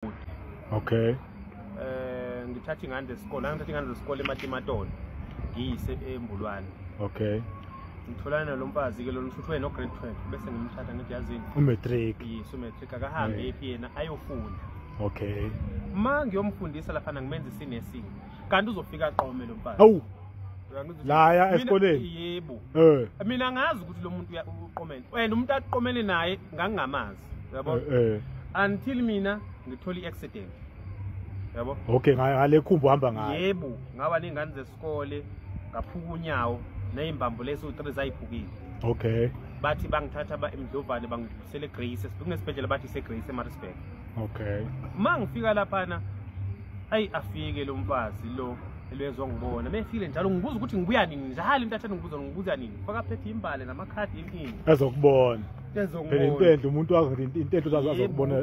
bhuti okay eh ngithatha ingane zesikole ngithatha ingane zesikole ematimatoni ngiyise embulwane okay ngitholana nalo mfazi ke lo nithuthwe no grade 12 bese ngimthatha ngithi yazini umatric yes umatric akahambe eh. ephi yena ayofunda okay ma ngiyomfundisa lapha ngimenza isinesini kanti uzofika aqome lo mfazi awu laya esikoleni yebo eh mina ngazi ukuthi lo muntu uqomene wena umuntu aqomene naye ngangingamazi yabo eh, eh. until mina ngithola i-accident yabo okay ngale khumbu uhamba ngayo yebo ngaba ney'ngane zesikole ngaphuka unyawo ney'mbambo lesi u-three zayiphukile okay bathi bangithatha ba emdlovane bangidlulisele egrace kunesibhedlela bathi isegrace emarisburg okay ma ngifika laphana ayi afike lo mfazi lo elwezwa ngibona befile njalo ngibuza ukuthi ngibuya nini njalo intathane ngibuza ngibuza nini fakaphethe imbale namakhadi inkinga ezokubona phela intendle umuntu wazi intendle uzazi azokubona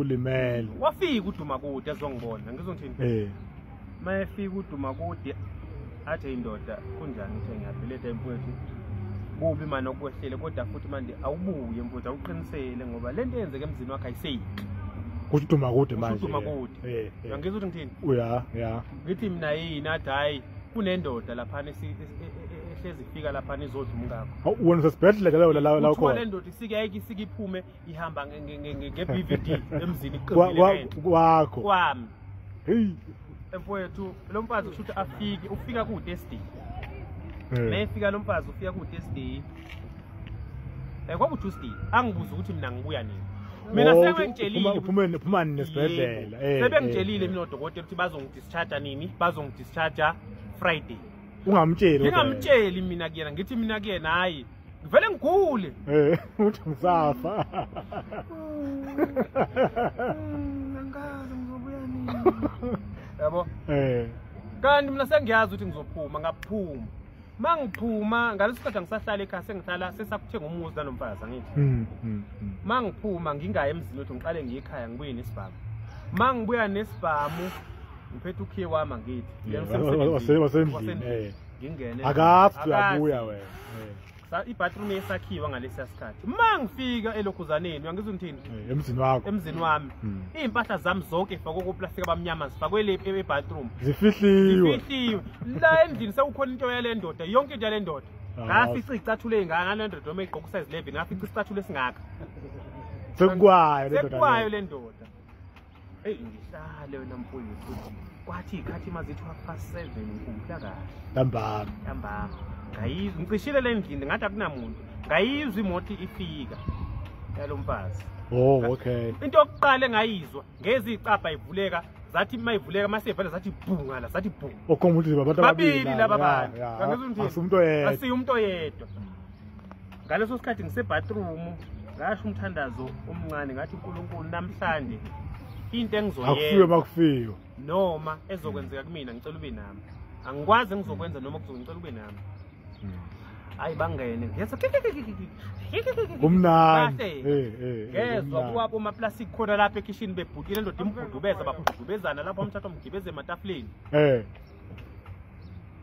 ulimele wafika uduma kude ezongibona ngizongithini eh mayefika uduma kude athe indoda kunjani uthe ngiyabhileta emfowethu kubi manje okwehlele kodwa futhi manje awubuye mfowethu awuqinisele ngoba lento eyenzeke emzini wakhe ayiseyiki kusho uduma kude manje uduma kude eh ngizwe ukuthi ngithini uya ya ngithi mina yini athi hayi kunendoda lapha ehlezi fika lapha nizodla umkakho hawu wena usesibhedlela ke la la la ukhona le ndoda isike ayike isike iphume ihamba nge nge nge nge BVD emzini iqinile kwakho kwami hey emfowethu lo mfazi kushuthi afike ufika ku test day mayefika lo mfazi ufika ku test day eh kwaku Tuesday angibuza ukuthi mina ngibuya nini mina oh, sebengitshelile uphuma uphuma nesibhedlela eh sebengitshelile eh, mina odokotela ukuthi bazongidischarge nini bazongidischarge Friday ungamtsheli ngingamtsheli mina kuyena ngithi mina kuyena hayi ngivele ngigule eh uthi ngisafa hmm, angazi ngizobuya nini yabo eh kanti mina sengiyazi ukuthi ngizophuma ngaphuma mangiphuma ngaleso sikhathi angisahlala ekhaya sengihlala sesakuthenga umuzi nanomfazi angithi hmm, hmm, hmm. mangiphuma ngingayi emzini wethu ngiqale ngiye ekhaya ngibuye nesibhamu mangibuya nesibhamu ngiphethe ukhiye wami angithi wasendlini eh. ngingene akazi uyabuya wena eh. ibathroom yesakhiwa ngalesiya sikhathi ma ngifika elokhuzaneni uyangizwa ngithini eh, emzini wakho emzini wami hmm. iy'mpahla zami zonke zifakwe koplastika abamnyama zifakwe le ebathroom zifihliwe zifihliwe la endlini sekukhona into yale ndoda yonke into yale ndoda ah, ngafica iy'cathulo ey'ngaka ngale ndoda uma igqoka usize 11 ngafica isicathulo esingaka sekukwayo le ndoda Hey ngihlale wena mfowethu futhi kwathi ikhathi mazithi half past 7 ngikhumbula kahle. Ntambama. Ntambama. Ngayizwa ngicishile le ndlini ngathi akunamuntu. Ngayizwa imoto ifika. Yalo mfazi. Oh okay. Into yokuqala engayizwa ngezi icapha ivuleka zathi uma ivuleka uma sivele zathi bhunga la zathi bhunga. Okhomba ukuthi babantu ababili. Babili laba bantu. Angizwa ukuthi. Asiyumuntu oyedwa. Asiyumuntu oyedwa. ngaleso sikhathi ngisebathroom ngasho umthandazo omncane ngathi unkulunkulu namhlanje into engizoyena bakufiyo noma ezokwenzeka kumina ngicela ube nami angikwazi engizokwenza noma kuzongicela ube nami hayi hmm. bangene ngeza kumnandi eh, eh, eh, ngezwa kuwabo amaplastic khona lapha ekhishini bebhutile ndoda imbhudubeza babhudubezana lapho umthatha umgibeze ematafuleni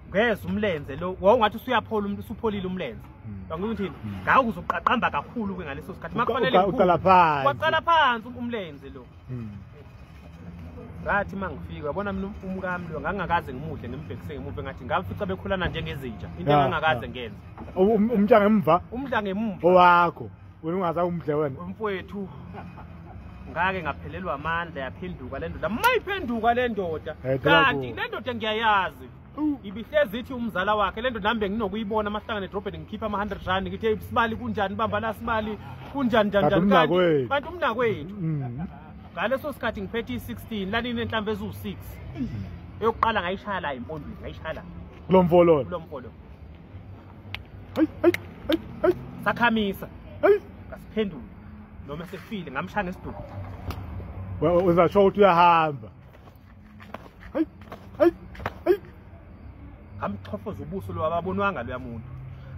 ngeza umlenze lo wawungathi usuyaphola umuntu usupholile umlenze hmm. ngakho uthini hmm. ngawo uzoqaqamba kakhulu ke ngaleso sikhathi makufanele uqala phansi waqala phansi umlenze lo hmm. ngathi uma ngifika yabona mina umkami lo ngangakaze ngimuhle ngimbhekise ngemuva ngathi ngamfica bekhulana njengezinja into engangakaze ngenze umntanga emva umntanga emva owakho wena ungaza umdle wena umfowethu ngake ngaphelelwa amandla yaphenduka le ndoda mayiphenduka le ndoda eh, kanti le ndoda ngiyayazi ibihlezi ithi umzala wakhe le ndoda nambe nginokuyibona amahlangane edrobheni ngikhipha ama-hundred rand ngithi eyi sibali kunjani bamba la sibali kunjani njanjani kanti umnakwethu mm. ngaleso sikhathi ngiphethe i-sixteen lanini enhlamvu eziwu-six mm. eyokuqala ngayishaya la impondweni ngayishaya la kulo mfololo kulo mfololo Hey, hey, hey, hey. Sakhamisa. Hey. Kasiphendula. Noma sefile ngamshaya ngesiduku. Wewe uzasho ukuthi uyahamba. Hey, hey, hey. Ngamchofoza ubuso lo ababonwanga lo yamuntu.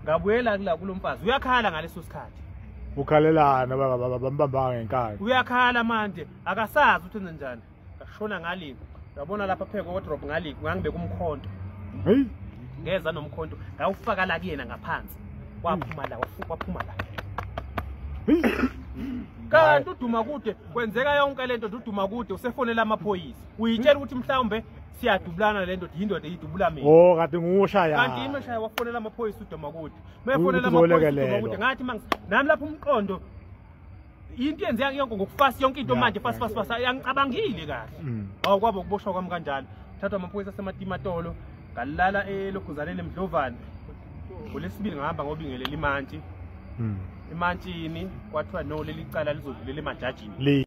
Ngabuyela kula kulomfazi. Uyakhala ngaleso sikhathi. Ukhalelana baba baba bambamba ngenkani. Uyakhala manje akasazi ukuthi enze njani. ngashona ngaliku yabona lapha pheke wardrop ngaliku ngangibe kumkhonto hey ngeza nomkhonto ngawufaka la kuyena ngaphansi waphuma la waphuma la kanti uduma kude kwenzeka yonke lento uduma kude usefonela amaphoyisa uyitshela ukuthi mhlawumbe siyadubulana le ndoda yindoda eyidubula mina oh kade ngushaya kanti yimi shaya wafonela amaphoyisa udoma kude mefonela amaphoyisa udoma kude ngathi mangi nami lapho umqondo yinto yenze yake yonke ngokufasa yonke into manje fast fast fast angicabangile kahle mm. awu kwabo ukuboshwa kwami kanjalo thathwa amaphoyisa asematimatolo ngalala eloguzaneni emdlovane ngolesibili ngahamba ngobingelela imantshi mm. emantshini kwathiwa no leli cala lizodlulela emajajini